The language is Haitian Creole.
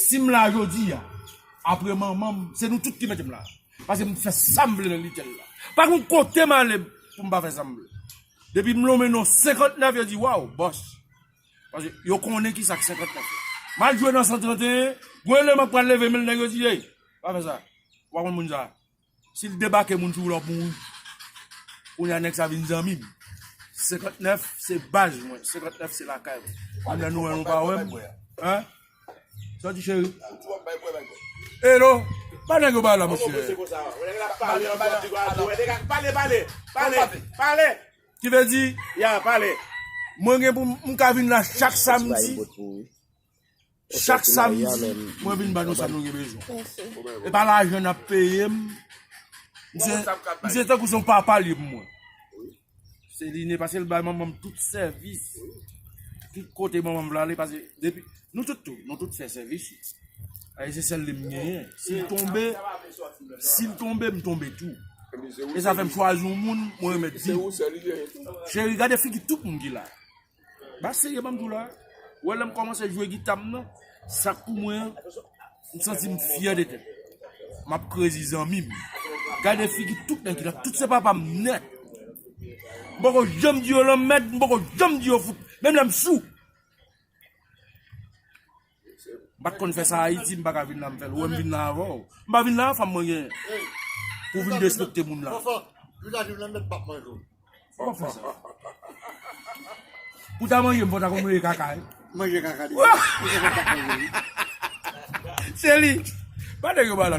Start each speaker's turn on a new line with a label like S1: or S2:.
S1: Si m la jodi a, apre manman m, se nou tout ki mete m la. Pase m fè sa m vle nan Little la. Pa gen yon kote m ale pou m pa fè sa m vle. Depi m lonmen non 59 yo di waw, bòs. Pase yo konnen ki sa k 59 yo. M al jwe nan 131, gwen lè m ap pral leve men nèg yo di ey, pa fè sa, ou pa konn moun sa. Sil debake moun sou ou lap mouri. Kounya nèg sa vin zanmim. 59 se baz mwen 59 se lakay mwen. Kounya nou wè nou pa wèm. Hein? Sa w di cheri? Elo? Ba nèg yo bay la mesye. Ki vle di? Ya pale. Mwen gen pou m ka vin la chak samdi. Chak samdi mwen vin ban nou sa nou gen bezwen. E pa lajan n ap peye m. Misye tankou se yon papa l ye pou mwen. Se li ne pase l bay manman m tout sèvis. Tout kote manman m vle ale pase. Nou tout tou, nou tout fè sèvis. E se sèl li m genyen. Si l tonbe, si l tonbe m tonbe tou. E sa fè m chwazi yon moun mwen remèt di. Cheri gade figi tout moun ki la. Ba seye banm doula. Wè lèm kòmanse jwe gitam nan. Sak pou mwen an. M santim fyè de tèt. Map krezi zanmim. Gade figi tout nèg ki la. Tout se papam nèt. M poko janm di yo lanmèd. M poko janm di yo fout. Menm lèm sou. Mpat konn fè sa Haïti mpa ka vin la m fèl ou wèm vin la avèw m pa vin la a fanm mwen gen pou vin despekte moun la pou ta manjem fò ta konn manje kaka wi se li pa nèg yo pa la non.